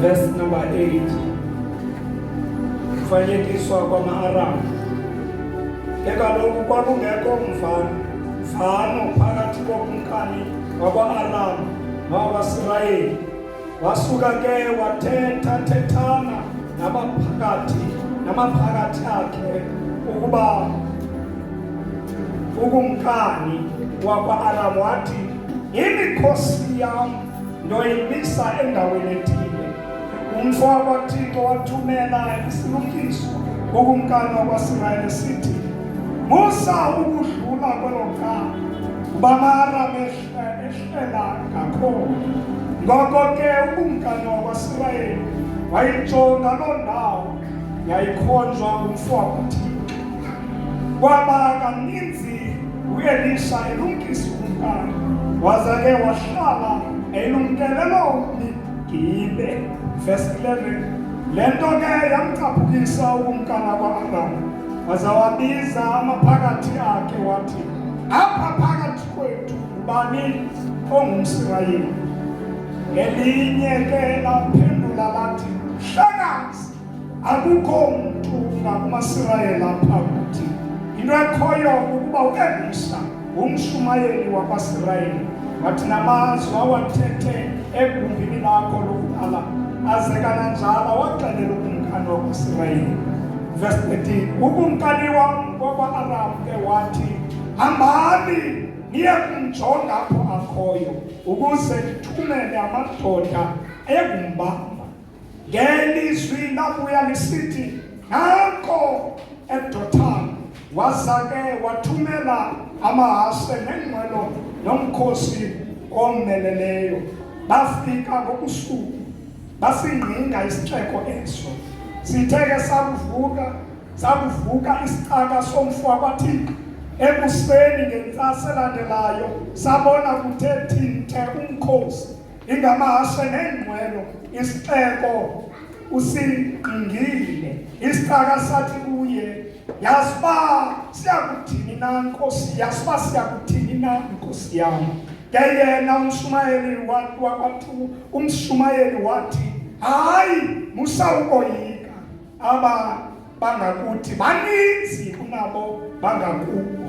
Verse number 8. Kufanekiswa kwama-Aramu. Ke kaloku kwakungekho mvano mvano phakathi kokumkani wakwa-Aramu nowakwaSirayeli Wasuka ke wathetha thethana nabaphakathi namaphakathi akhe ukuba ukumkani wakwa-aram wathi yimikhosi yam ndoyimisa endaweni ethile umfo wakwathixo wathumela isilumkiso kukumkani wakwasirayeli sithi musa ukudlula kwelo cala uba maaramehle Ehlela kakhulu. Ngoko ke ukumkani wakwaSirayeli wayijonga loo ndawo yayikhonjwa ngumfo wakwaThixo. Kwaba kaninzi uElisha elumkisa ukumkani waze ke wahlala elumkele loo mni Gibe. Verse 11 le nto ke yamcaphukisa ukumkana kwa-aramu waza wabiza amaphakathi akhe wathi apha phakathi kwethu ngubani ongumsirayeli ngelinye ke laphendula lathi hlakazi akukho mntu ngakumasirayeli apha kuthi into ekhoyo ukuba uelisa ngumshumayeli wakwasirayeli wathi namazwi awathethe egumbini lakho lokuqala aze kananjalo waxelela ukumkani wakwasirayeli verse 13 ukumkani wam kwakwa-aram ke wathi hambani niye kumjonga apho akhoyo ukuze ndithumele amadoda egumbamba ngelizwi labuya lisithi nanko edotan waza ke wathumela amahashe nengqwelo nomkhosi omeleleyo bafika ngobusuku basingqinga isixeko eso sithe ke sakuvuka Sakuvuka isicaka somfo wabathixo ekuseni ngentsasa elandelayo sabona kuthe thinthe umkhosi ingamahashe neengqwelo isixeko usingqingile isicaka sathi kuye yazi uba siyakuthini na nkosi yazi uba siyakuthini na nkosi yam ke yena umshumayeli wakwathi umshumayeli wathi hayi musa ukoyika aba bangakuthi baninzi kunabo bangakubo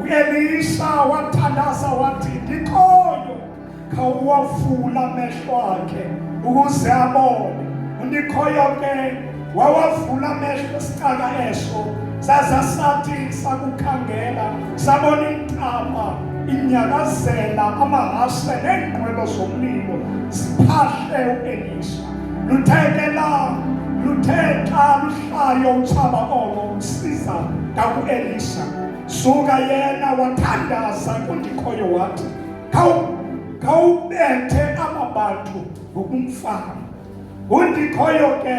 uelisha wathandaza wathi ndikhoyo khawuwavula amehlo akhe ukuze abone undikhoyo ke wawavula amehlo esicaka eso saza sathi sakukhangela sabona intaba inyakazela amahashe neenqwelo zomlilo ziphahle uelisha luthe ke la luthe xa luhlayo utshaba olo usiza ngakuelisha suka yena wathandaza kundikhoyo wathi khawubethe aba bantu ngokumfana kundikhoyo ke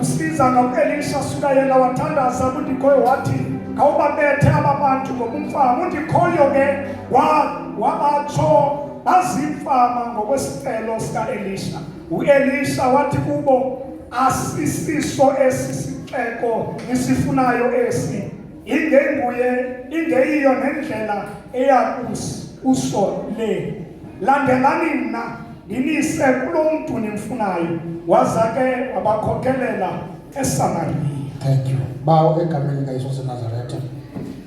Usiza ngakuElisha suka yena wathandaza kundikhoyo wathi khawubabethe aba bantu ngoba umfama undikhoyo ke wabatsho bazimfama ngokwesicelo sikaElisha uElisha wathi kubo asisiso esi sixeko nisifunayo esi ingenguye ingeyiyo nendlela eya kuso le landelani mna Ndinise kulo mntu nimfunayo, waza ke wabakhokelela eSamariya. Thank you. Bawo egameni likaYesu waseNazaretha,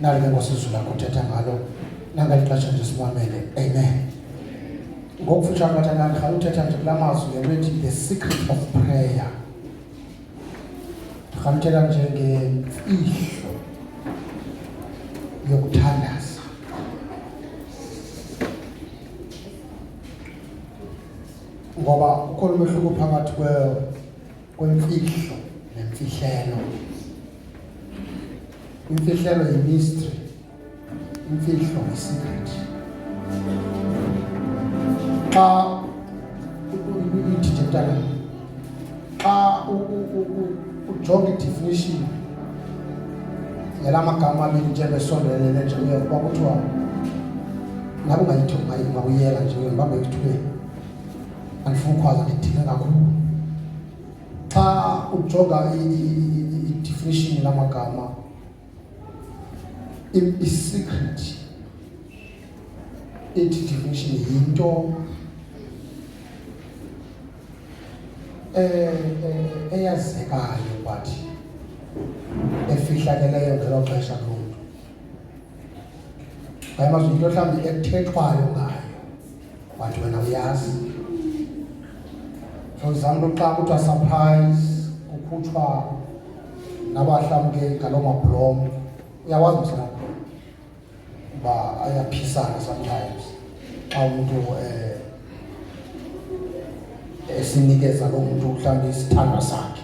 nali ke ngosizo lakho uthetha ngalo nangeli xesha nje simamele. Amen. Ngokufutshane bathandana, rhala uthetha nje kula mazwi ngento ethi the secret of prayer. Rhala uthetha nje ngemfihlo yokuthandaza. ngoba ukhona umehluko phakathi kwemfihlo nemfihlelo imfihlelo yimistry imfihlo yisecret xa uyidijitala xa ujonga idefinition yala magama abili njengoba esondelele njengoba kuba kuthiwa nabe ungayithuba ungawuyela nje ngibambe ekuthubeni andifuna ukhwaza ndidinga kakhulu xa ujonga i-definition lamagama i-secret ethi definition yinto eh, eh, eyazekayo but efihlakeleyo ngelo xesha lomntu ayamazwi into mhlawumbi ekuthethwayo ngayo Wathi wena uyazi. For example, xa kuthiwa surprise kukhutshwa nabahlamkeli ngaloo mabhulom uyawazi msana uba ayaphisana sometimes xa umntu um eh, esinikeza loo mntu mhlawumbi isithandwa sakhe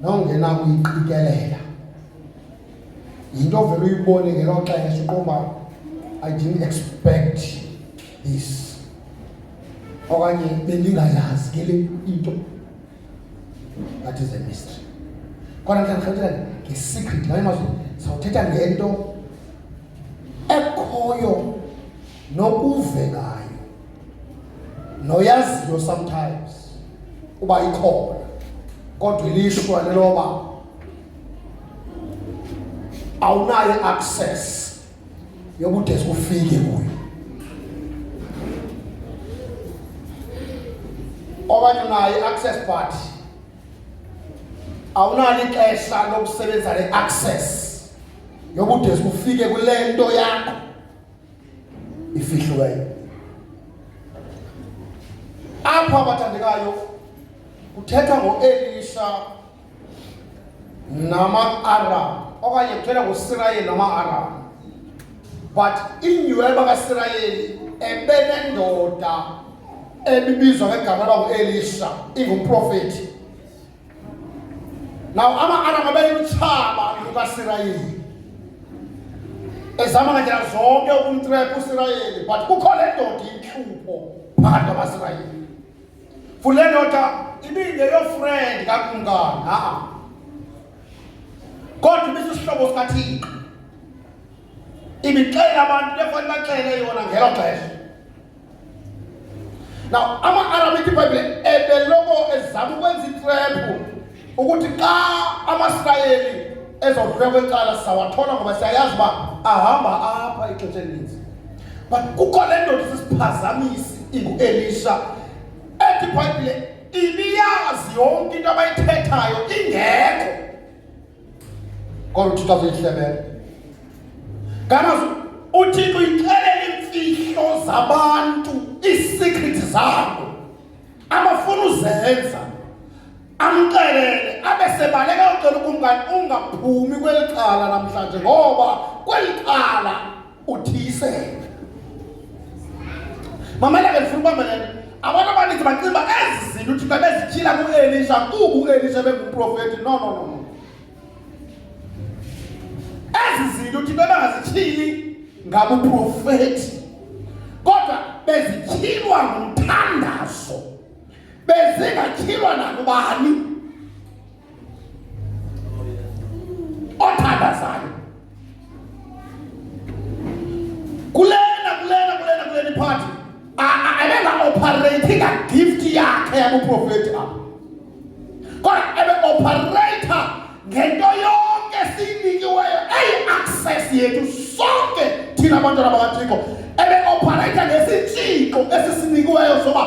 nongenakuyiqikelela yinto ovele uyibone ngelo xesha uqomba i didn't expect this okanye bendingayazi ke le into that is a mystery khona mhlawumbi sawuthetha nge-secret ngamanye amazwi sawuthetha ngento ekhoyo nokuvekayo noyaziyo sometimes uba ikhona kodwa ilishwa leloba awunayo access yobude sikufike kuyo okanye unayo i-access but awunalo ixesha lokusebenzisa le-access yobude sikufike kule nto yakho ifihlo kayo apha abathandekayo kuthethwa ngoelisha nama-aram okanye kuthethwa ngosirayeli nama-aram but inyhweba kasirayeli ebenendoda ebibizwa ngegama lakuelisha ingumprofethi nawo ama-aram abeyimtshaba lukasirayeli ezama ngandlela zonke ukumtrepha usirayeli but kukho le ndoda intlupho phakathi kwamasirayeli fule ndoda ibingeyofrendi kakumkana kodwa ibisisihlobo sikathixo ibixelela abantu lefanele baxele yona ngelo xesha Now ama-Arabic iBhayibhile ebeloko ezama ukwenza itrephu ukuthi xa amaSirayeli ezodlula kwecala sawathola ngoba siyayazi uba ahamba apha ixesha elininzi but kukho le ndoda isisiphazamisi ingu-elisha ethi ibhayibhile ibiyazi yonke into abayithethayo ingekho Kodwa uThixo azihlebele. Kana uThixo uyixelela imfihlo zabantu, iisecret zabo. Abafuna uzenza. Amxelele abe sebaleka ucela ukumkani ungaphumi kweli cala namhlanje ngoba kweli cala uthiyisele mamela ke ndifuna ubamba le abantu abaninzi bacinga uba ezi zinto uthixo ebezityhila kuelisha kuba uelisha ebengumprofeti no no no ezi zinto uthixo ebengazityhili ngabuprofeti kodwa bezityhilwa ngumthandazo bezingatyhilwa nakubani Otanda sana kulena kulena kulena kulena iphathi abenga operating a gift yakhe yabuprofeti apha kodwa ebe operator ngento yonke esiyinikiweyo eyi access yethu sonke thina abantwana bakathixo ebe operator ngesitshixo esisinikiweyo soba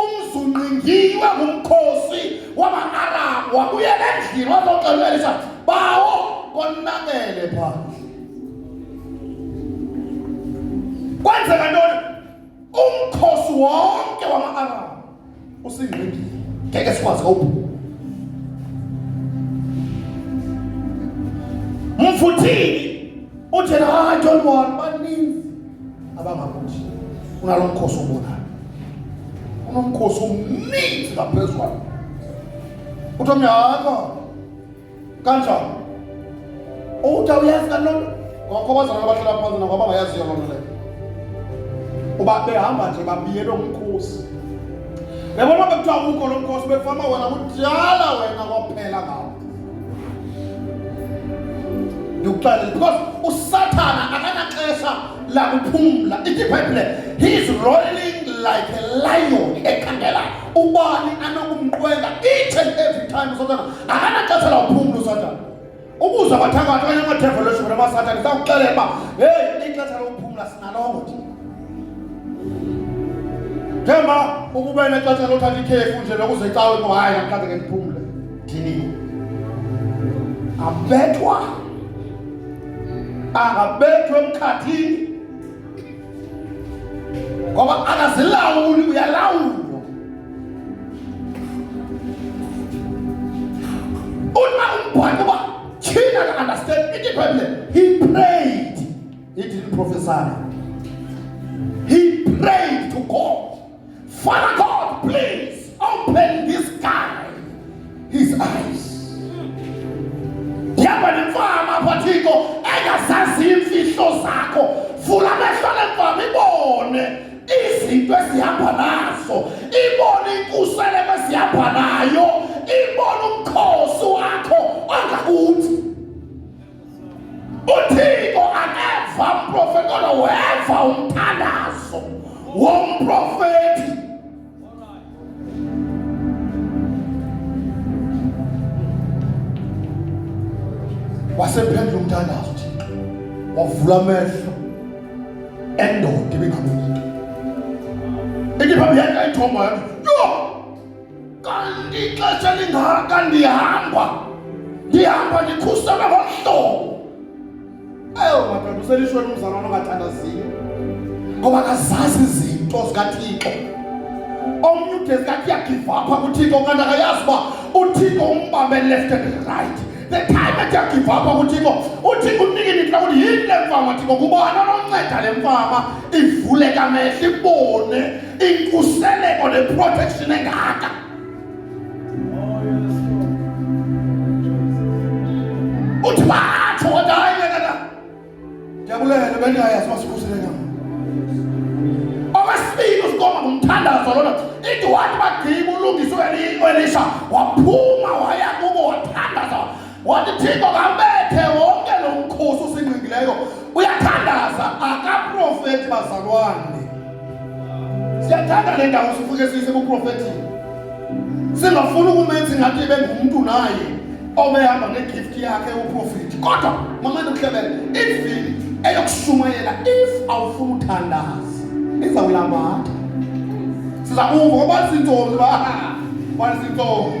umzungqingiwe ngumkhosi wama-aramu wabuyela endlini wazoxelwa elisa bawo konakele phandle kwenzeka ntoni umkhosi wonke wama-aramu usingqindile ngeke sikwazi kawubhula mfuthini Uthi hayi John Moore baninzi abangakuthi unalo mkhosi obonayo. Unomkhosi omninzi ngaphezulu kwakho. Uthi omnyama kanjani? Uthi uyazi kanjani? Ngakho bazalwana abahlala phansi nabo abangayaziyo loo nto leyo. Uba behamba nje babiyele umkhosi. Yabona bekuthiwa ukho lo mkhosi bekufama wena kudala wena kwaphela ngawo. ndikuxelele because usathana akanaxesha lakuphumla ithi ibhayibhile he's rolling like a lion ekhangela ubani anokumqwenga each and every time usathana akanaxesha lakuphumla usathana ukuza bathakathi okanye amadevolution bona basathana isakuxelela uba heyi ixesha lokuphumla sinalongo nje njengoba ukuba nexesha lothatha ikhefu nje lokuzecawe ngo hayi namhlanje ke ndiphumle ndini abethwa angabethwa emkhathini ngoba akazilawuli uyalawula prophesied. He prayed to God. Father God, please open this guy his eyes. Yaba nemfama phathiko engazazi imfihlo zakho. Vula amehlo lemfama ibone izinto esihamba nazo. Ibone inkusele esihamba nayo. Ibone umkhosi wakho ongakuthi uthixo akeva mprofeti kodwa weva umthandazo womprofeti wasephendla umthandazo thixo wavula amehlo endoda ibingamuntu ikiphambi yakhe ayithomba yathi kanti ixesha lingaka ndihamba ndihamba ndikhusela ngomhlobo eyo madoda uselishweni umzalwana ongathandaziyo ngoba kazazi izinto zikathixo omnye ude zikathi yagivapha kuthixo kanti akayazi uba uthixo umbambe left and right the time athi yagivapha kuthixo uthixo unikini kula kuti yini le mfama thixo kubani ononceda le mfama ivuleka mehla ibone inkuseleko neprotection engaka uthi batsho kodwa hayi lekana ndiyabulela bendingayazi uba sikhuseleka okwesibini usikoma ngumthandazo lona ithi wathi bagqiba ulungisa uelisha waphuma waya kubo wathandaza Wathi Thixo kambethe wonke lo mkhosi usingqingileyo uyathandaza akaprofeti bazalwane. Siyathanda le ndawo sifuke siyise kuprofetini. Singafuni ukumenza ingathi ibe ngumntu naye obehamba ne-gift yakhe uprofeti kodwa mamane uhlebele ivini eyokushumayela if awufuna uthandaza izawulambatha siza kuva oba zintombi ba ah, bani zintombi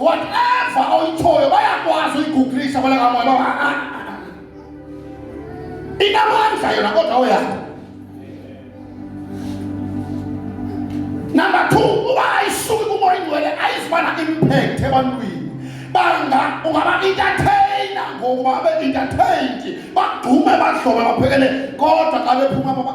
whatever oyitshoyo bayakwazi uyiguglisha kwala kamoya ba ah, ah, ah, inamandla yona kodwa oyakho number two uba ayisuki kumoya ingcwele ayizibana impact ebantwini banga ungaba-entertaina ngokuba abe-entertained bagqume badlobe baphekele kodwa xa bephuma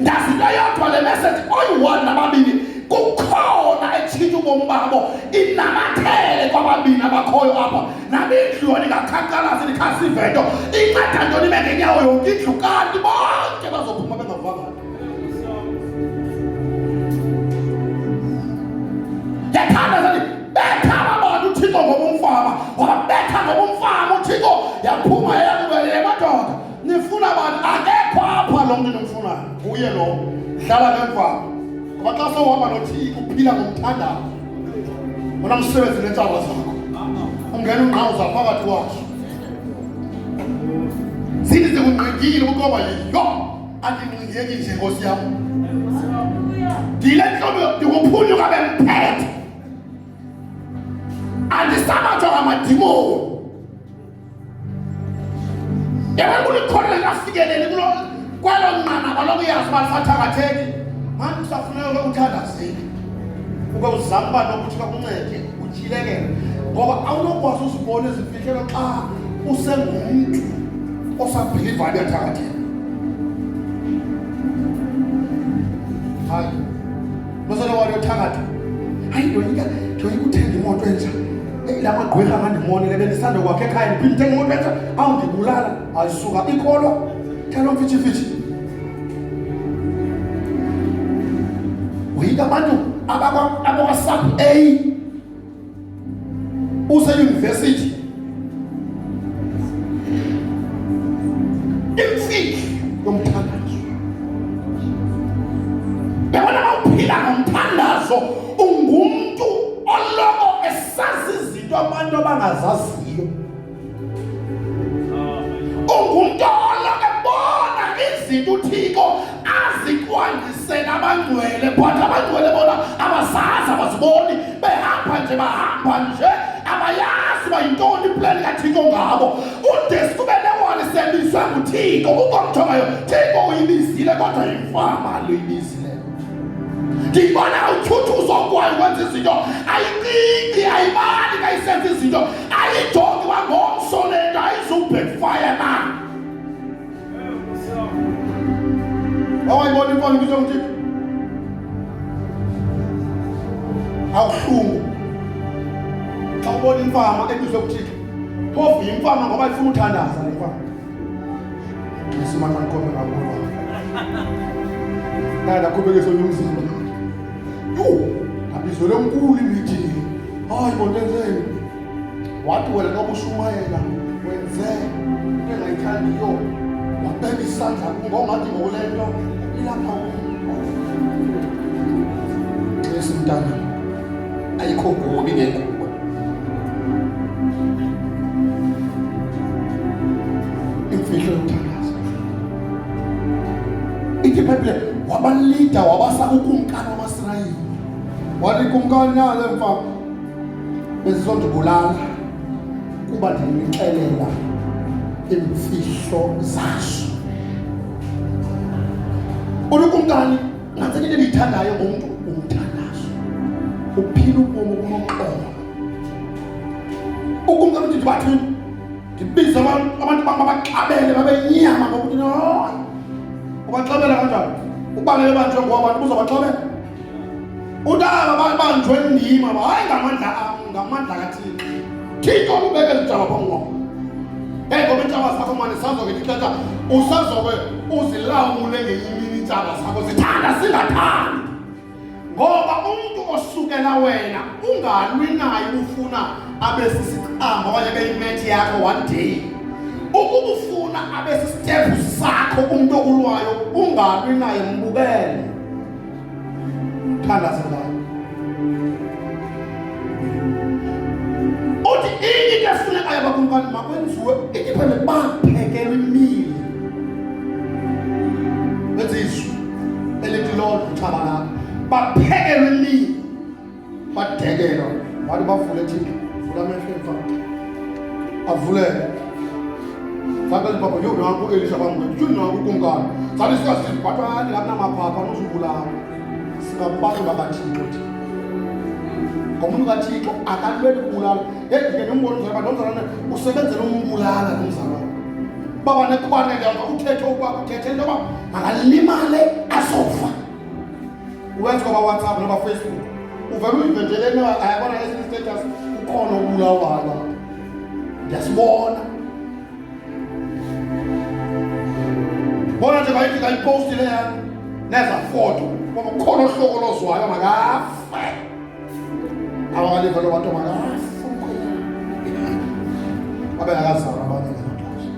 ndazi into yodwa le message oyi-one nababini kukhona etshintsha ubomi babo inamathele kwababini abakhoyo apha nami indlu yona ingakhankalazi ndikhasive nto inceda ntoni ibe ngenyawo yonke indlu kanti bonke bazophuma bengavanga yathanda zathi betha ababona uthixo ngobumfama wababetha ngobumfama uthixo yaphuma yayakubelela madoda nifuna bani akekho apha lo mntu nimfunayo nguye lo dlala ngemvako ngoba xa sowuhamba nothiki uphila ngomthandazo ona msebenzi neentshaba zakho ungena ungqawuza phakathi waso zini zikungqingile ukuba yiyo andingqingeki nje nkosi yam ndile ntlobo ndikuphunyuka bemphethe andisabathwa ngamadimoni Yena kulikhona likafikeleli kulo kwelo nqanaba lokuyazi uba lisathangatheki. Manje usafuneka ke uthandazile. Ube uzama uba nokuthi kakuncede utyhilekele. Ngoba awunokwazi uzibona ezifihlelo xa usengumntu osabhilivayo uyathakatheka. Hayi. Mosolo walo thakatha. Hayi ndoyika ndoyika uthenga imoto entsha. Eyi la magqwirha angandimonile bendisanda kwakhe ekhaya ndiphinde ndithenga imoto entsha awundibulala ayisuka ikholwa thelo mfitshifitshi. Woyika abantu abakwa abakwa sub A useyunivesithi imfihlo yomthandazo yabona uphila ngomthandazo ungumntu oloko esazi izinto abantu abangazaziyo ungumntu oloke bona izinto uthixo azikwandisela abangcwele but abangcwele bona abazazi abaziboni behamba nje bahamba nje abayazi uba yintoni iplani kathixo ngabo udesi kube newali sebizwe nguthixo ukomthomayo thixo uyibizile kodwa yimfama luyibizile ndiyibona uthuthuzo kwayo wenza izinto ayicingi ayibali kayisenza izinto Alijongi wangomso le nto ayizubhekfaya na. Wawayibona imfana ibizwa nguThixo. Awuhlungu. Xa ubona imfama ebizwe nguThixo. Phofu yimfama ngoba ifuna uthandaza le mfama. Ngisimana ngikhona ngabona. Nada kubekisa umzimba. Abizwele unkulu imithi. Hayi bondenzeni. Wathi wena nokushumayela wenze into engayithandiyo. Wabeka isandla kungongathi ngokule nto ilapha Xesi mntana. Ayikho kubi ngekho. ithi ibhayibhile wabalida wabasa ukumkani wamasirayeli wathi kumkani nale mfa bezizondibulala kuba ndinixelela imfihlo zaso uthi kumkani ngathi into endiyithandayo ngumntu umthandazo uphila ubomi obunoxolo ukumkani uthi ndibathini ndibize abantu abantu bam abaxabele babe nyama ngokuthi no ubaxabela kanjani ubalele banjwe ngoba abantu buzobaxabela utaba babanjwe ndim aba hayi ngamandla am ngamandla kathixo thixo ubeke ezijaba phambi kwam eyi ngoba iintshaba zakho mane sazoke ndixesha usazoke uzilawule ngenye imini iintshaba zakho zithanda zingathandi ngoba umntu osukela wena ungalwi naye ubufuna abe sisiqamba okanye abe yimethi yakho one day ukuba ufuna abe sisitephu sakho umntu okulwayo ungalwi naye mbukele thandaze ngayo uthi inye into efunekayo abakumkani makwenziwe indiphendele baphekelwe imile elithi loo luthaba labo baphekelwa imini badekelwa wathi bavule thina vula amehlo emfana avulele sakali baba yo nangu elisha bamwe yo nangu kungani sali sikasi batwa ni lapna maphapha nozubula singabantu bakathixo thina ngomuntu kathixo akalweli kubulala yedike nombona umzalwa nomzalwane usebenzela umbulala nomzalwane baba nekubane leyonto uthethe uba uthethe into yoba makalimale azofa uwenza kwabawhatsapp nabafacebook uvele uyivejeleni ayabona esinye status ukhona ubulawala ndiyasibona bona nje bayithi kayiposti leyana neza foto ngoba ukhona ohlokolozwayo makafe Awale vele watu marafu abe akazalwa abanye ngelaxesha.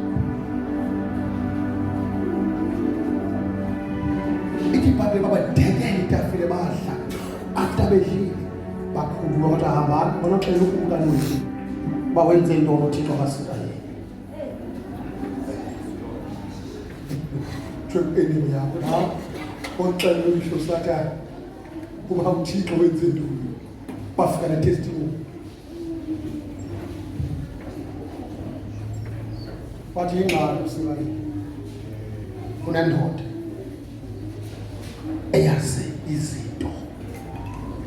Ithi ibhayibhile babadekela itafile badla after bedlile bakhuluma kodwa hambani bona xela ukubuka nini uba wenze into onothixo akasika yini thwe enini yakho na oxela umhlo sathana Kuba uThixo wenze ntoni? Bafika na testimony. Wathi ingxaki uSimani. Kunendoda eyazi izinto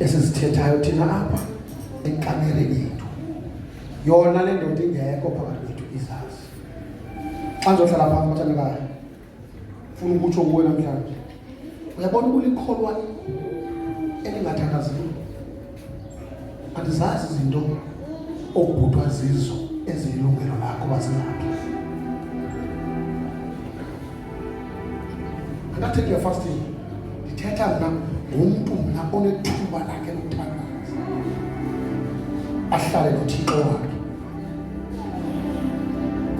esizithethayo thina apha enkamereni yethu. Yona le ndoda ingekho phakathi kwethu izazi. Xa ndizohlala phantsi bathandekayo funa ukutsho kuwe namhlanje uyabona uba ulikholwa elingathandaziyo andizazi izinto okubhutwa zizo eziyilungelo lakho bazingaphi andathethi uyafasting ndithetha mna ngumntu mna onethuba lakhe lokuthandaza ahlale nothixo wakhe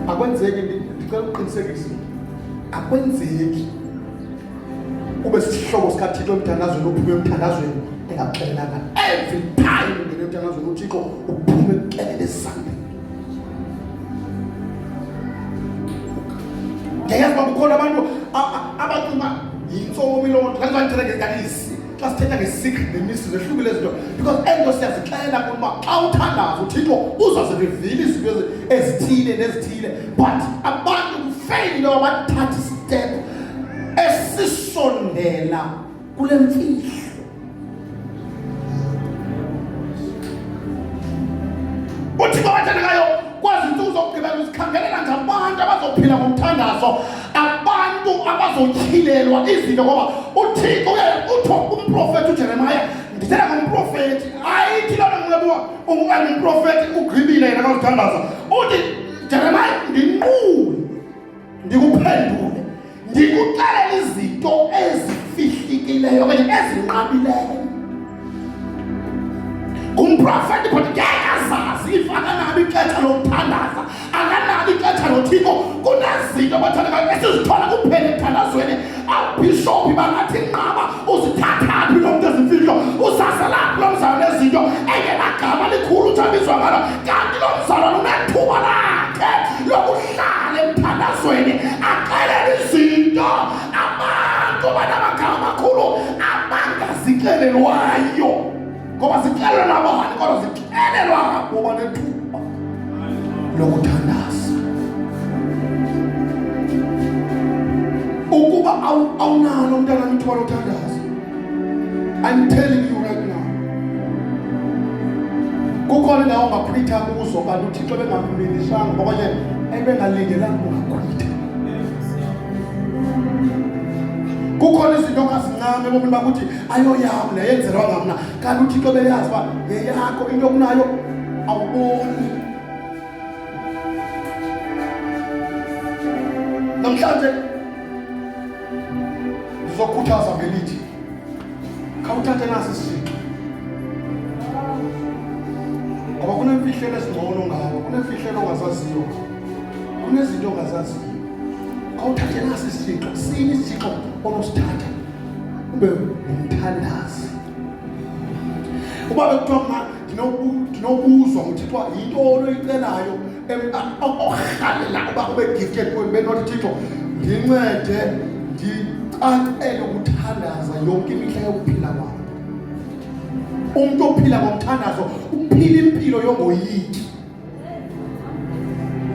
akwenzeki ndicela ukuqinisekisa akwenzeki ube sisihlobo sikathixo emthandazweni uphume emthandazweni engakuxelelanga every time ungene emthandazweni uthixo uphume kuxelele esandeni ndiyayazi uba kukhona abantu abacinga yintsomilo nto kanti bandithanda ngezikanisi xa sithetha nge-secret nemisebenzi ehlukile izinto because ento siyazixelela kuba xa uthandaza uthixo uzazirivile izinto ezithile nezithile but abantu kufeyile into yoba bathathe isitephu esisondela kule mfihlo uthixo wathanda ngayo kwazi ntsuku zokugqibela uzikhangelela ngabantu abazophila ngomthandazo abantu abazotyhilelwa izinto ngoba uthixo utho umprofeti ujeremaya ndithela ngomprofeti ayithi loo nto mlebuwa ungumprofeti ugqibile yena kazithandaza uthi jeremaya ndinqule ndikuphendule ndikuxelela izinto ezifihlikileyo okanye ezinqabileyo Ngumprofeti kodwa ngeke azazi ifananabi ixesha lokuthandaza akanalo ixesha lothiko kunezinto abathandekayo esizithola kuphela emthandazweni abhishophi bangathi nqaba uzithathaphi lo mntu ezimfihlo usaselaphi lo mzalo nezinto engenagama likhulu utshambiswa ngalo kanti lo mzalo lunethuba lakhe lokuhlala emthandazweni axelele izinto amango banamagama amakhulu amanga zixelelwayo ngoba zixelelwa nabani kodwa zixelelwa ngabo banethuba lokuthandaza ukuba awunalo umntana mithiwa lothandaza i'm telling you right now kukhona indawo ngakhwitha kuzo kanti uthixo bengamlindisanga okanye ebengalindelanga ungakhwitha kukhona izinto ongazincami ebomini bakho ukuthi ayoyami le yenzelwanga mna kanti uthixo beyazi uba yeyakho into okunayo awuboni namhlanje ndizokhuthaza ngelithi khawuthathe nasi isithixo ngoba kunemfihlelo ezingcono ngawo kunemfihlelo ongazaziyo kunezinto ongazaziyo awuthathe nasi isithixo sini isithixo onosithatha ube ngumthandazi uba bekuthiwa mna ndinobuzwa nguthixo yinto oloyicelayo orhalela uba ube gifted kuwe ndibe nothi thixo ndincede ndicacele ukuthandaza yonke imihla yokuphila kwam umntu ophila ngomthandazo uphila impilo yongoyiki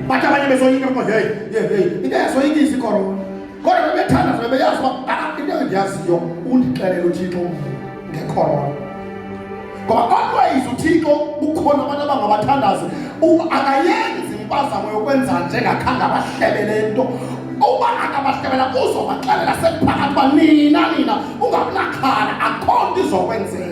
Bata abanye besoyika because hey, hey, hey. Into yasoyika isikorona. Kodwa bebethanda zona beyazi uba ah into endiyaziyo undixelele uThixo ngekorona. Ngoba always uThixo ukhona abantu abangabathandazi akayenzi impazamo yokwenza njengakhange abahlebele into uba akabahlebela uzobaxelela sekuphakathi uba nina nina ungabunaxhala akho nto izokwenzeka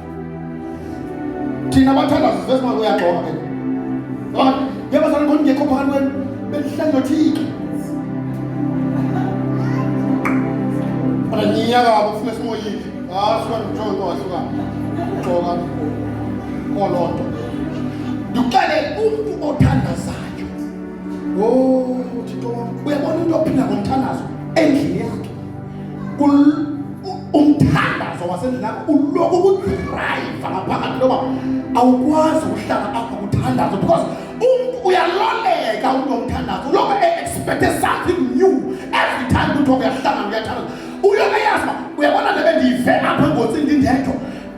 thina bathandazi sivele singabe uyaxoka ke yabazali khona ngekho phakathi kwenu belihlale nothixo ananyaka abo funa simoyile asuka njongo asuka xoka kolonto ndikele umntu othandazayo o thixo wam uyabona into ophila ngomthandazo endlini yakhe umthandazo wasendlini yakho uloku ukudrayiva ngaphakathi loba awukwazi ukuhlala apha kuthandazo because umntu uyaloleka umntu omthandazo uloku e-expecte something new every time kuthiwa uyahlangana uyathandaza uyoke yazi uba uyabona le bendiyive apha engozini ndindedwa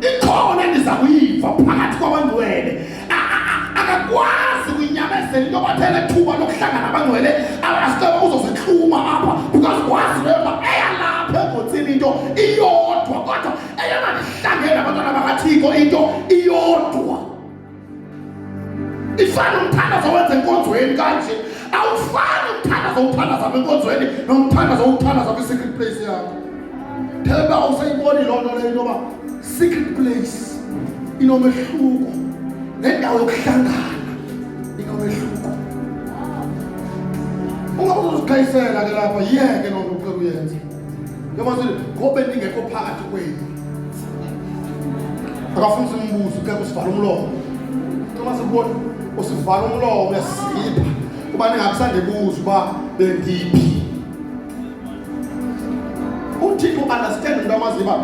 ikhona endiza kuyiva phakathi kwabangcwele akakwazi ukuyinyamezela into kwathela ethuba lokuhlangana abangcwele abasicela uzozihluma apha because kwazi leyo uba eyalapha engotsini into iyodwa kodwa eyona ndihlangene abantwana bakathiko into iyodwa ifana umthandazo wenze enkonzweni kanje awufani umthandazo uthandaza enkonzweni nomthandazo uthandaza kwi-secret place yakho themba awusayiboni loo nto leyo intoba secret place inomehluko nendawo yokuhlangana inomehluko ungabe uzozikhayisela ke lapha yeke loo nto ucela uyenze ngobe ndingekho phakathi kwenu akafuni simbuze ukekho sivala umlomo noma sikubona usivala umlomo uyasipha kuba ndingakusandibuza uba bendiphi uthixo understand into amaziyo uba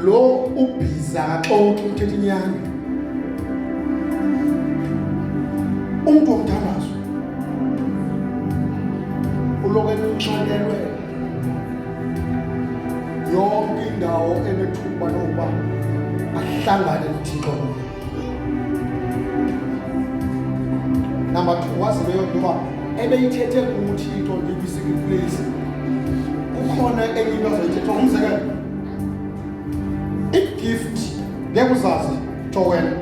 lo ubhiza akaxoki uthetha inyani umntu womthandazo uloku enxakelwe yonke indawo enethuba lokuba ahlangane nothixo number two wazi leyo nto uba ebeyithethe kuthixo ndikwi-secret place kukhona enye into azoyithetha umzekelo igift ngeke uzazi towena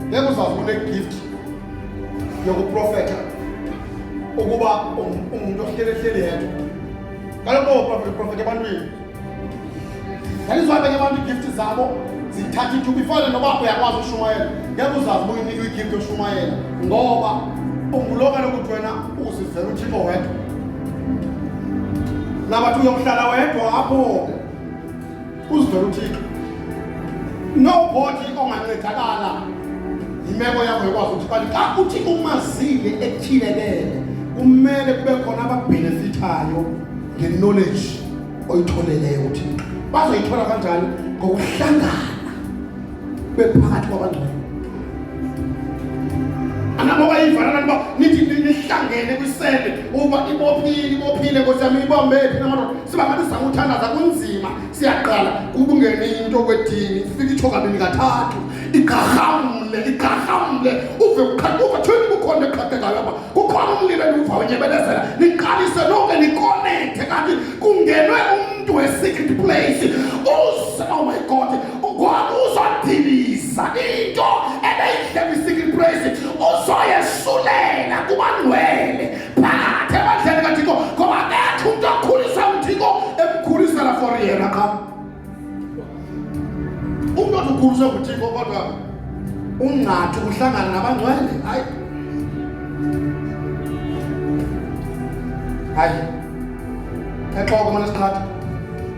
ngeke uzazi unegift yokuprofeta ukuba ungumntu ohlelehleli yedwa kaloku ooprofeta ebantwini ndandizibabeke abantu iigifti zabo zithatha ithuba ifane noba uyakwazi ushumayela ngeke uzazi uba uyinika igifti oshumayela ngoba ungulo kaloku uthi wena uzivela uthixo wedwa nabathi uyokuhlala wedwa apho Uzivela uThixo. Nobody ongancedakala imeko yakho yokwazi ukuthi kanti xa uthi umazile ethilelele kumele kube khona ababhenefithayo nge-knowledge oyitholeleyo uthixo bazoyithola kanjani ngokuhlangana bephakathi kwabangcwele angaboka ivana kanti uba nithi nihlangene kwisele uba ibophile ibophile nkosi yam ibombe phi namadoda siba ngathi sizama uthandaza kunzima siyaqala kubungene into kwedini ifike itsho kabini kathathu igqarhamle igqarhamle uve uva thweni kukhona eqhaqekayo apha kukhona umlilo endiwuva unyebelezela niqalise nonke nikonekthe kanti kungenwe umntu we-secret place uze oh my god Ngoba uzodiliza into ebeyidlema i-secret praise uzoyesulela kubangcwele phakathi ebandleni kathixo ngoba akekho umntu akhulisa uthixo emkhulisela for yena qha umntu othi ukhuliswe nguthixo kodwa ungathi uhlangana nabangcwele hayi hayi exoko mane siqhatha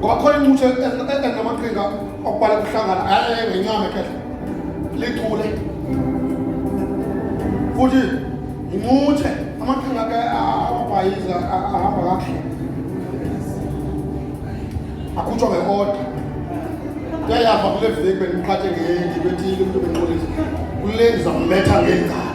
kwakho incutshe engamaqhinga okubala kuhlangana aye ngenyama ekhehle lichule futhi incutshe amaqhinga ke amabhayiza ahamba kakuhle akhutshwa ngeoda kuyayava kule veki bendiqhathe ngendi bethile umntu benqulisa kule ndizammetha ngengalo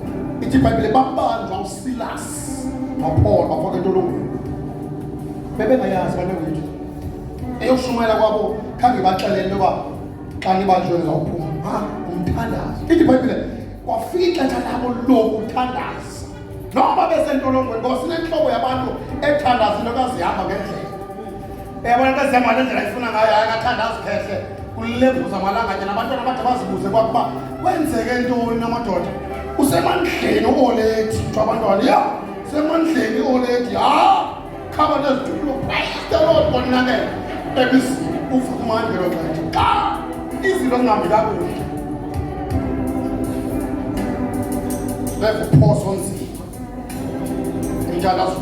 ithi ibhayibhile babanjwa usilasi nopholo bafaka entolongweni bebengayazi banewethu eyokushumayela kwabo khange baxelele uba xa nibanjwe ngizawuphuma ha umthandazo ithi ibhayibhile kwafika ixesha labo lokuthandaza noba besentolongweni ngoba sinentloko yabantu ethandaza into kazihamba ngendlela yabona into ezihamba le ndlela ifuna ngayo akathanda azikhehle kulevuza malanganye nabantwana bade bazibuze kwakuba kwenzeke ntoni namadoda usemandleni uoledi kuthiwa abantwana ya semandleni ioledi ha khaba nezitulo praistelod konakela ebizini ufumani ngelo xesha xa izinto zingambi kakuhle bevuphoso nzima umthandazo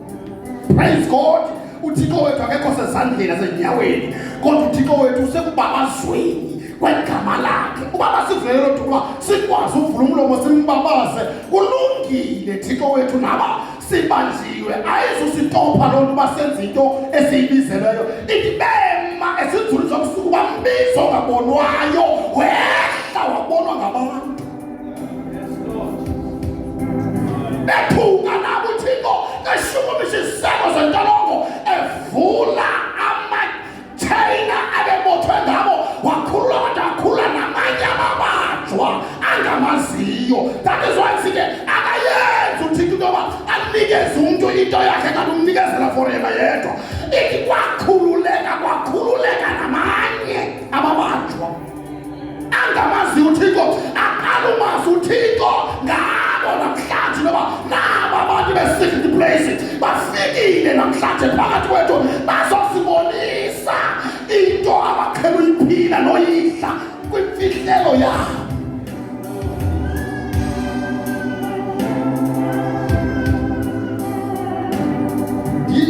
Praise God. UThixo wethu akekho sezandleni asenyaweni kodwa uThixo wethu usekubabazweni kwegama lakhe uba basivulele lo duba sikwazi uvula umlomo simbabaze kulungile thixo wethu naba sibanjiwe ayizusitopha loo nto uba senza into esiyibizeleyo itibema esinzulu zobusuku bambizo ngabonwayo wehla wabonwa ngabantu Bephuka nabo uThixo eshukumisa iziseko zentolongo evula amatheyina abebothwe ngabo wakhulula kodwa wakhulula namanye amabanjwa angamaziyo that is why sike akayenzi uThixo into yoba anikeze umntu into yakhe kanti umnikezela for yena yedwa ithi kwakhululeka kwakhululeka namanye amabanjwa angamazi uthixo aqhalumazi uthixo ngabo namhlanje noba naba abantu be-secret place bafikile namhlanje phakathi kwethu bazosibonisa into abaqhela uyiphila noyidla kwimfihlelo yabo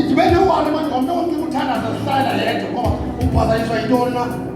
ndibe newani manje ngomntu wonke uthandaza zihlala yedwa ngoba uphazanyiswa yintoni na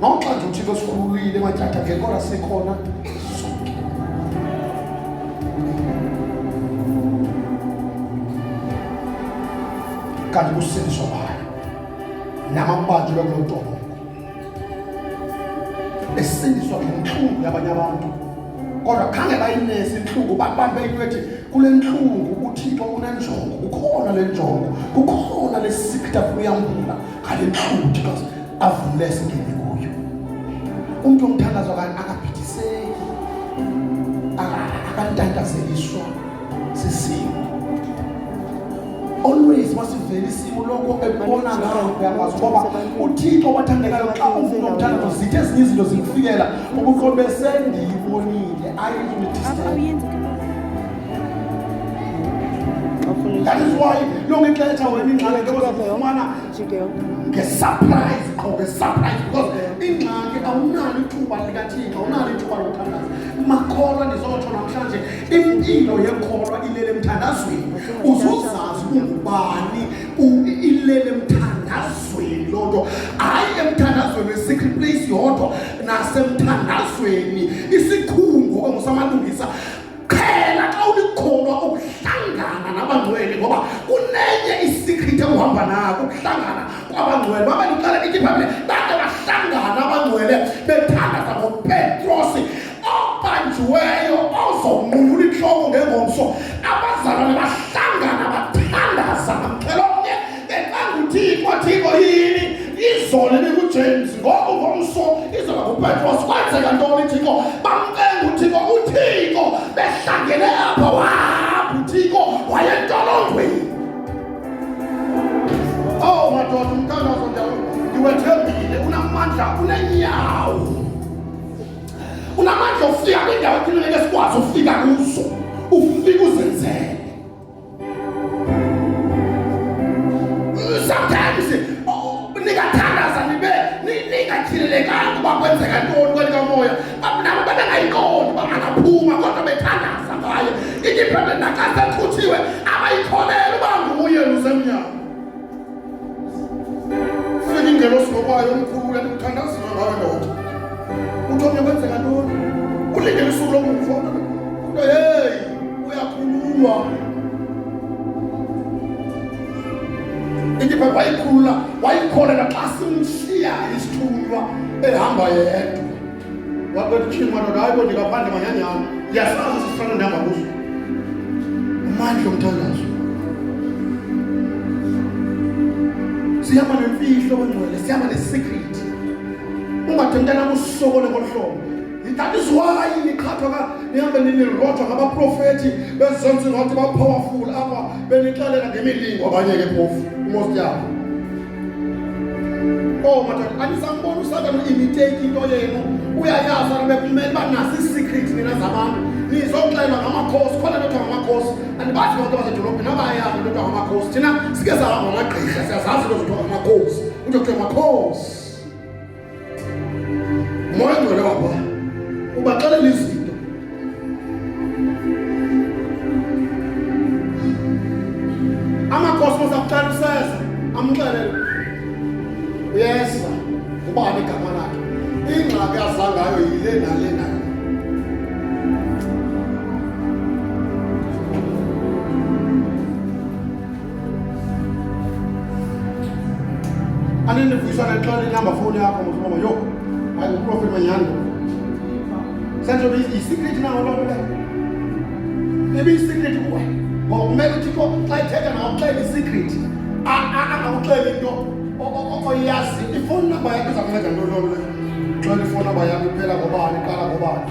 Noxa nje uThixo sikhululile matyatha ke kodwa sikhona kanti kusindiswa bayo namabanjwa kulo ntobo esindiswa ngentlungu yabanye abantu kodwa khange bayinesi intlungu babambe into ethi kule ntlungu uthixo unenjongo kukhona le njongo kukhona le sikta kuyambula Kandiqhuti bas avumle singene kuyo. Umntu omthandazo kan akabhidiseki. Akantandazeliswa sisimo. Always masivele isimo lokho ebona ngayo uyakwazi ngoba uThixo wathandekayo xa uvuma umthandazo zithe ezinye izinto zikufikela ubuqobe sendiyibonile ayizulithisa. That is why yonke ixesha wena ingxaki into ozakufumana ngesurprise qho ngesurprise because ingxaki awunalo ithuba likathixo awunalo ithuba lokuthandaza makholwa ndizotsho namhlanje impilo yekholwa ilele emthandazweni uzozazi ungubani ilele emthandazweni loo nto hayi emthandazweni we-secret place yodwa nasemthandazweni isikhungo ongusamalungisa qhela xa ulikholwa ukuhlangana nabangcwele ngoba kunenye isikhrithi ekuhamba nako ukuhlangana kwabangcwele baba ndicela ithi bhayibhile bade bahlangana abangcwele bethandaza ngopetrosi obanjiweyo ozonquyula intloko ngengomso abazalwane bahlangana ecanguthiko thiko yini izolo ebikujames ngoku ngomso izoba ngupetros kwenzeka ntoni thiko bamcenga uthiko uthiko behlangene apha wahamba uthiko wayentolongweni ow oh, madoda umthandazo ndiwethembile unamandla unenyawo unamandla ofika kwindawo ekhululeke sikwazi ufika kuzo ufika uzenzele sometimes oh, ningathandaza nibe ningatyhilelekanga uba kwenzeka ntoni kweli kamoya nabo babengayiqondi uba angaphuma kodwa bethandaza ngaye ityiphepe nakasekhuthiwe abayikholele uba nguye lusemnyango Fika ingelo silobayo omkhulu kanti kuthandazile ngawe ndoda. Uthi omnye kwenzeka ntoni? Ulindele usuku lomfo. Kodwa hey, uyakhululwa. Indipha wayikhulula, wayikhona naxa simshiya isithunywa ehamba yedwa. wabwera uchimo anodayo ndikapanda manyanya awo yasaza sisifana ndamabuso amandla omthandazo sihamba nemfihlo bangcwele sihamba nesecret ungathi mntanam usokole ngolu hlobo that is why niqhathwa ka nihambe nilirojwa ngabaprofethi bezonzi ngathi ba-powerful apha benixelela ngemilingo abanye ke phofu umosti yabo Oh madoda, anisamboni uSathane uimitake into yenu. Uyayazi abantu bekumele uba nasi secret nina zabantu. Nizoxelwa ngamakhosi, khona lento ngamakhosi. Andibazi abantu basedolobheni abayazi lento ngamakhosi. Thina sike sahamba amagqirha, siyazazi lento ngamakhosi. Kuthiwa makhosi. Moya ngcwele wabo ubaxelela izinto. Amakhosi masakuxela useza amxelele. Uyeza ubani igama lakhe. Ingxaki azangayo yile nale nale. anendivuyiswa naxola inamba fowuni yakho mosiboma yho hayi uprofeti manyhani senzo yisikrithi nawo loo nto leyo ibiyisikrithi kuwe ngoba kumele uthixo xa ithetha nakuxela isikrithi angakuxela into oyazi ifowuni namba yakho iza kunceda ntoni loo nto leyo xela ifowuni namba yakho iphela ngobani iqala ngobani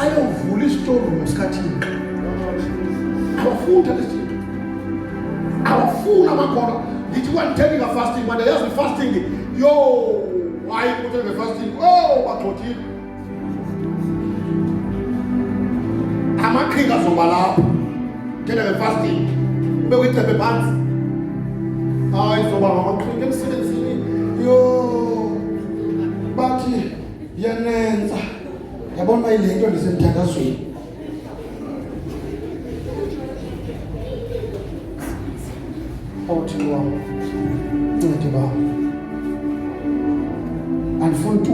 ayovula isitorum esikhathini abafuni thatha isinto abafuni amakholwa ndithi kwanditheni ngafasting manje yazi ifasting yo hayi kuthi ngefasting o oh, bagxothile amaqhinga azoba lapho ngena ngefasting ube kwicephe phansi hayi zoba ngamaqhinga emsebenzini yo bathi yanenza yabona uba ile nto ndisemthandazweni othini wam ncede bam andifuni tu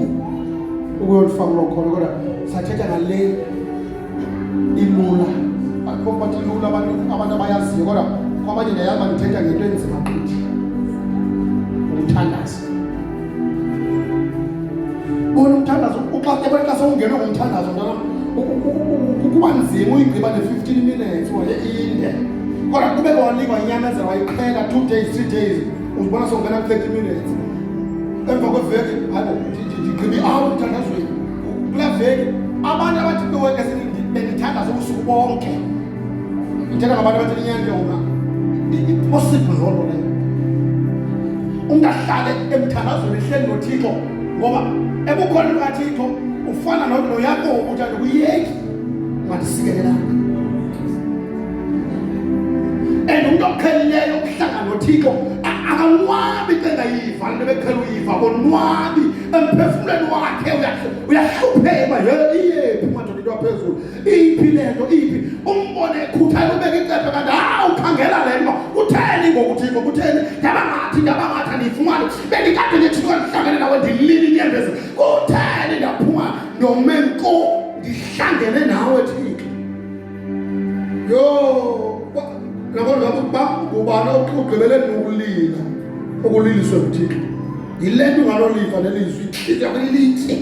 ukuyolifaka loo khona kodwa sathetha ngale ilula akho bathi ilula abantu abantu abayaziyo kodwa kwabanye ndayaba ndithetha ngento enzima gqithi ukuthandaza bona umthandazo uxa ebona xa sewungenwe ngumthandazo mntana kuba nzima uyigqiba ne-fifteen minutes waye inde kodwa kube kwanikwa inyamezela wayiqhela two days three days uzibona songena ku-thirty minutes emva kweveki hayi ndigqiba i-hour emthandazweni kula veki abantu abathi beweke bendithandaza ubusuku bonke njenga ngabantu abathi inyanga yona impossible loo nto leyo umntu ahlale emthandazweni ehleli nothixo ngoba ebukhona lukathixo ufana nodlo yakho ukuthi andikuyeki ungandisikelelanga and umntu oqhelileyo ukuhlanga nothixo akanwabi xa engayiva le nto beqhela uyiva konwabi emphefumlweni wakhe uyahlupheka yeyephi umadoda into aphezulu iphi le nto iphi umbone ekhuthalela ubeka icephe kanti ha ukhangela le nto utheni ngokuthiko kutheni ndabangathi ndabangathi andiyifumane bendikade ndithikwa ndihlangene nawe ndilile inyembezi kutheni ndaphuma ndome nko ndihlangene nawe thixo yho nabona ngabe uba ngubani ogqibele nokulila okuliliswe nguthixo yile nto ungaloliva nelizwi ihliziyo yakho ilitye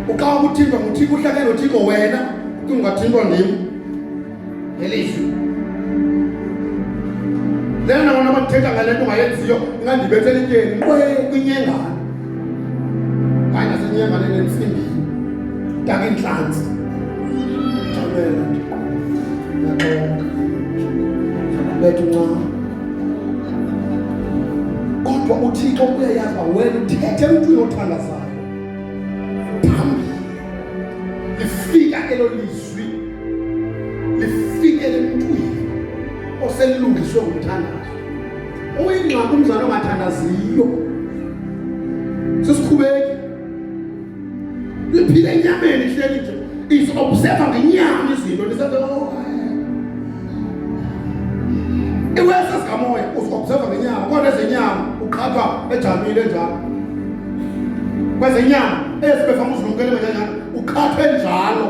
ukawa kuthintwa nguthixo uhlale nothixo wena kungathintwa ndim ngelizwi lena nabona abathetha ngale nto ungayenziyo ingandibethela ityeni kwinyengane hayi nasenyengane nentsimbi ntaka intlantsi jamela nto naxoka bethu ncam Kodwa uThixo uyayazi uba wena uthethe umntu uyothandazayo phambili lifika elo lizwi lifikele emntwini oselilungiswe ngumthandazo uyingxaki umzali ongathandaziyo sesikhubeki liphile enyameni hleli nje isobserva ngenyama izinto lisathi oh iwesa sikamoya usobserva ngenyama kodwa ezenyama uqhathwa ejamile njalo kwezenyama ezibefama uzilumkele kanjani uqhathwe njalo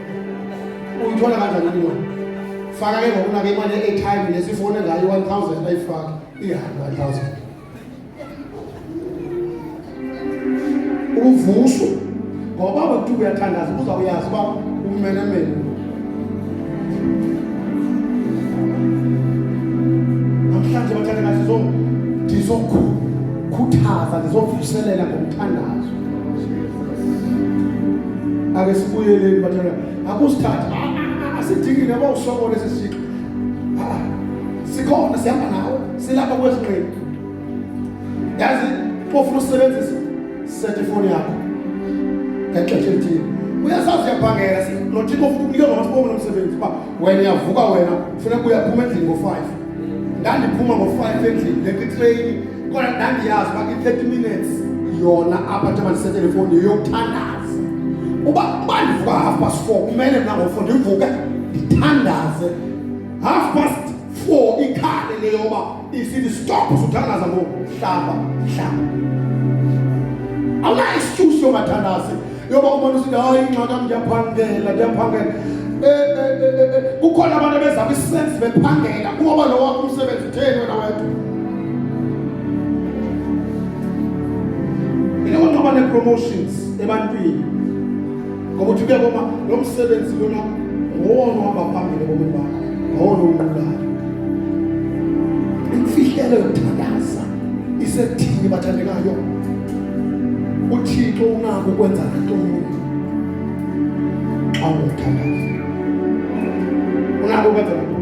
uyithola kanjani imali faka ke ngokuna ke imali ye-airtime nesifone ngayo i-one thousand ayifake ihambe one thousand uvuswe ngoba bakuthi uyathandaza uzawuyazi uba umenemene namhlanje bathanda kathi ndizokhuthaza ndizovuselela ngomthandazo ake sibuyeleni batshana akusithatha ah, ah, ah, asidingi nabo usokola esi sixo sikhona sihamba nawe silapha kwezinqini yazi ofuna usebenzisa sethe ifoni yakho ngexesha elithile uyasazi uyabhangela lo thixo ofuna ukunike lona sibongo lomsebenzi uba wena uyavuka wena funeka uyaphuma endlini ngo-five ndandiphuma ngo-five endlini leqitreyini Kodwa ndandiyazi uba kwi-30 minutes yona apha njengoba ndisethe le fowuni yeyokuthandaza. Uba uba ndivuka half past four kumele mna ngofo ndivuke ndithandaze half past four ikhale le yoba isithi stop suthandaza ngoku hlamba hlamba. Awunayo excuse yokungathandazi. yoba ubona usithi hayi ingxaka ndiyaphangela ndiyaphangela eh, eh, eh, kukhona abantu abeza kwisensi bephangela kuwoba lo wakho umsebenzi utheni wena wedwa mina konqaba nee-promotions ebantwini ngoba uthi kuya koma lo msebenzi lona ngowona uhamba phambili ebomini bakho ngowona unqulayo imfihlelo yokuthandaza isethini bathandekayo uthixo unako ukwenza nantoni xa ungumthandazi unako ukwenza nantoni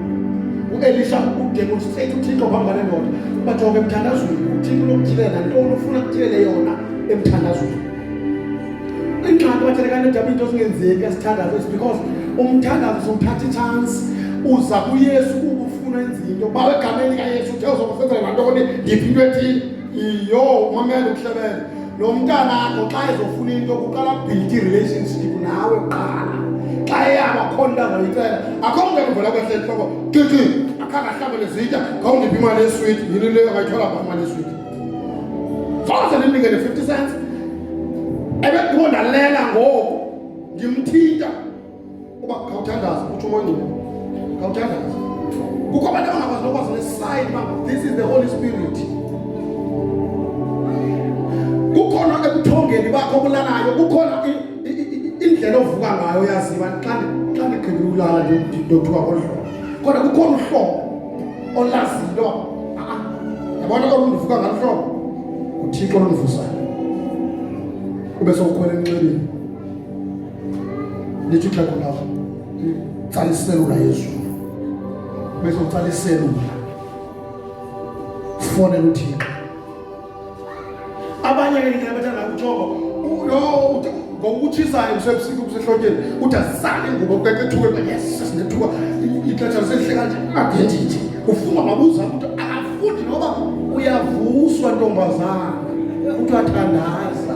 uelisha udemonstrate uthixo phambi kwale ndoda uba jonga emthandazweni uthixo unokuthilela nantoni ufuna kuthilele yona emthandazweni ingxaki bathelekana edaba into zingenzeki esithandazo is because umthandazo sowuthatha itshansi uza kuyesu ukufuna enzinto bawegameni kayesu uthe uzokusenzela nantoni ndiphi into ethile iyo umamele uhlebele lo mntanakho xa ezofuna into kuqala build relationship nawe qala xa eyaba khona into azoyicela akho mntu ekuvela kwehle entloko titi akhange ahlabele zitya khawundiphi imali yeswiti yini leyo angayithola pha imali yeswiti fose ndimnikele fifty cents ebekho ndalela ngoku ndimthinta uba khawuthandaze utsho umongcile khawuthandaze kukho abantu abangakwazi nokwazi nesayini uba this is the holy spirit kukhona ebuthongeni bakho obulalayo kukhona indlela ovuka ngayo yaziba xa ndigqibe ulala ndothuka ngolu hlobo kodwa kukhona uhlobo olaziyo yabona olundivuka ngalo hlobo nguthixo olundivusayo ube sowukhwela enxebeni lithi ixhego lawo utsala iselula yezulu bese utsala iselula sifonela uthixo abanye ke ngeke bathanda kuthoko lo ngokutshisayo usebusika ubusehlotyeni uthi asale ngubo keke ethuke ba yes sinethuka ixesha lisehle kanje adendithi ufuna mabuza ukuthi akafundi noba uyavuswa ntombazana kuthiwa thandaza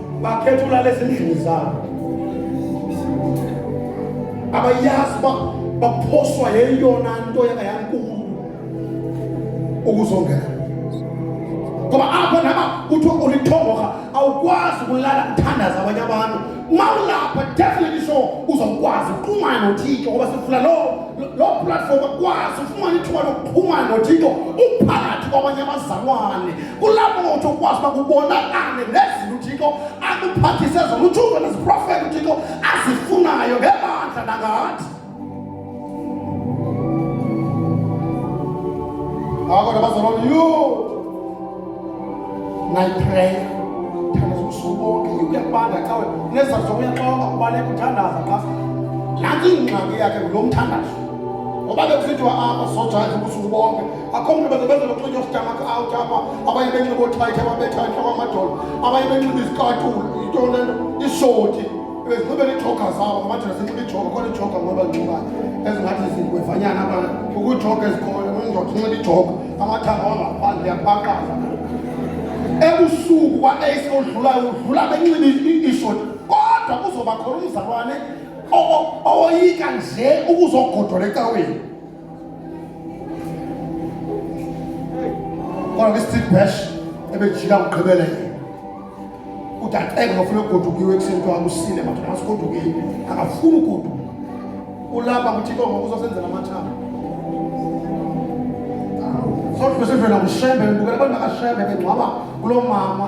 bakhetha ulala ezindlini zabo abayazi uba baphoswa yeyona nto yangayankulu ukuzongela ngoba apho naba kuthiwa ulithongoha awukwazi ukulala kuthandaza abanye abantu uma ulapha definitely sure uzawukwazi uxhumana nothixo ngoba sifuna loo loo platform akwazi ufumane ithuba lokuxhumana nothixo uphakathi kwabanye abazalwane kulapho ngothi ukwazi uba kubonakale nezinto uthixo akuphathise zona utshuke neziprofethi uthixo azifunayo ngebandla nangathi ngako nabazalwana yho nayipreya thandaza ubusuku bonke uyakubanda xa wena nezizathu zokuyaxoka ubaleka uthandaza xa nanti ingxaki yakhe ngulo mthandazo ngoba bekusithiwa apha sojayiva ubusuku bonke akhomntu bazobeza nokunxitywa usitamaka out apha abanye benxiba oothayithi ababetha entloko amadolo abanye benxiba izikatulu into lento ishoti bezinxibe neejoga zabo ngamadoda sinxiba ijoga khona ijoga ngoba nxibayo ezingathi zingwevanyana aba kukho ijoga ezikhoyo undoda unxiba ijoga amathanga wangaphandle yabaqaza ebusuku kwa-ace odlulayo udlula benxiba ishoti kodwa kuzoba khona umzalwane owoyika nje ukuzogodola ecaweni kodwa ke street bash ebejika ngigqibeleke udaqeka ngafuna ugodukiwe ekuseni kuthiwa akusile madoda ngasigodukile akafuni ugoduka ulapha kuthi kongo uzosenzela amathanga sodwa sivela ngushembe ngibukela abantu bakashembe bengcwaba kulo mama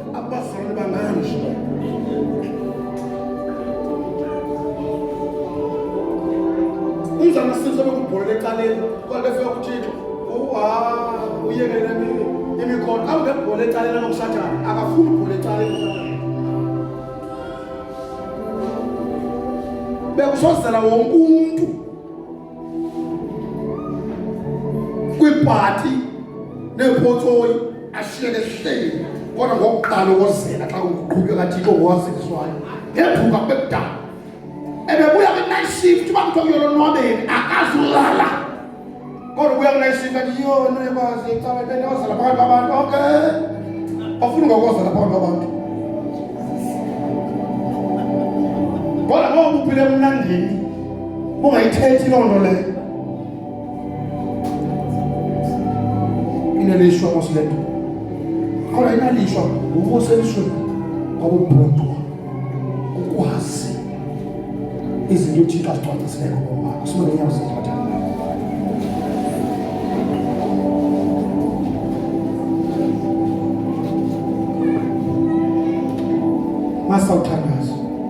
abazalwane banganje umzana sinso bekubholela ecaleni kodwa befika kuthixo uyekele imikhono awungebhola ecaleni lokusathane akafuni ubhola ecaleni bekusozela wonke umntu kwibhati neepotsoyi ashiyeke hleli kodwa ngokuqala ukozela xa kuqhutywa kathixo ngowaziswayo ngethuka kubekudala ebebuya kwi-night shift uba kuthiwa kuyolonwabeni akazulala kodwa ubuya kwi-night shift athi yona ekwazi icala ibele ozela phakathi kwabantu okay ofuna ngokozela phakathi kwabantu kodwa ngoba uphile emnandini Ungayithethi loo nto leyo. Inelishwa mos le nto. Kodwa inalishwa ngokuselishweni ngobubhuntu ukwazi izinto uThixo azicwangcisileyo ngobomi bakho. Sibone inyawo zethu bathandana. Masawuthandaza.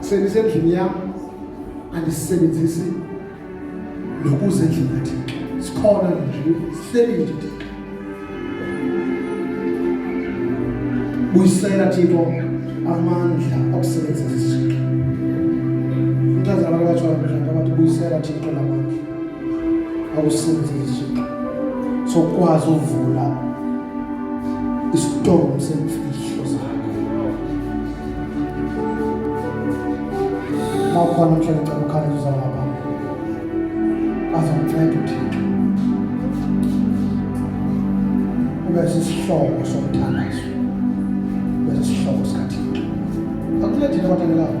sendisendlini yam andisisebenzisi nokuze endlini kathixo sikhona nje sihleli nje thixo buyisela thixo amandla okusebenzisa isixo umntazana abantu abatsho abantu abathi buyisela thixo lamandla awusenzisi sokwazi uvula isitomu semfihlo zakho nawukhona mhlawumbe cela ukhaleza uzala ngaphambi azokunceda uthixo ube sisihlobo somthandazo ube sisihlobo sikathixo akuncedile abathandelayo